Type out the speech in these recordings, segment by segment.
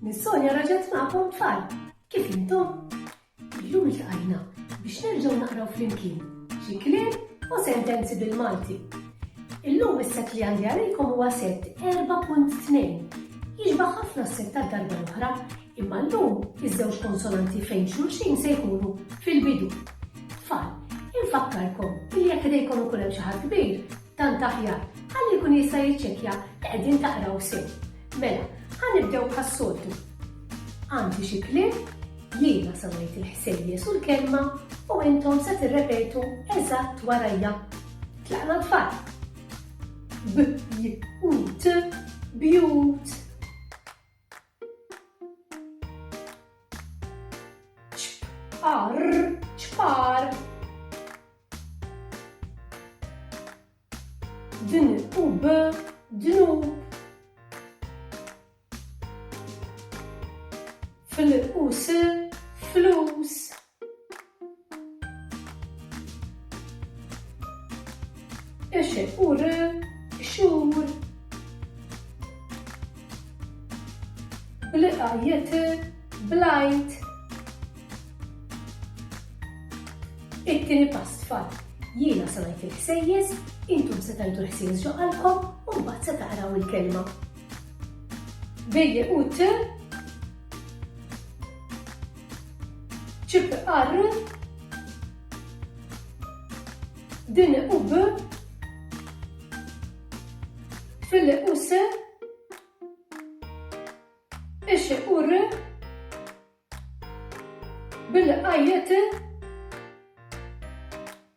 Nissonia raġet maqom tfal, kif intom? Illum il-tqajna biex nerġaw naqraw flimkien xi kliem u sentenzi bil-Malti. Illum is-set li għandi għalikom huwa set 4.2. Jiġba ħafna s-set ta' darba l-oħra, imma llum iż-żewġ konsonanti fejn xulxin se jkunu fil-bidu. Tfal, infakkarkom li jekk idejkom ikun hemm xi ħadd kbir, Tant aħjar, ħalli jkun jista' jiċċekkja li qegħdin taqraw sew. Mela, ħa nibdew bħas-soltu. Għandi xi kliem, jiena se ngħid il-ħsejjes u l-kelma u intom se tirrepetu eżatt warajja. Tlaqna tfal. B, j, u, t, bjut. ċpar, ċpar. Din u b, dnub. Fil-qus, flus. Eċe u re, xur. Bliqa jete, blajt. It-tini pass fat jiena se ngħid il-ħsejjes, intom se tajdu ħsejjes ġo qalbkom u mbagħad se taqraw il-kelma. Bejje u t Ċip R din u B fil u S ix u R bil-qajjet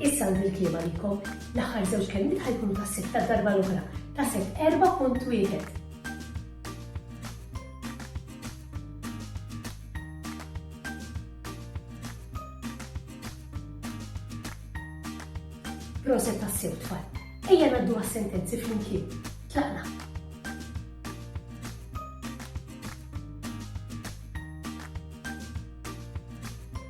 Issa għandi l-kliema likom. L-aħħar żewġ kelmiet ħajkunu ta' sitt ta' darba l-oħra. Ta' sitt 4.1. Proset ta' sew tfal. Ejja naddu għas-sentenzi flimkien. Tlaqna.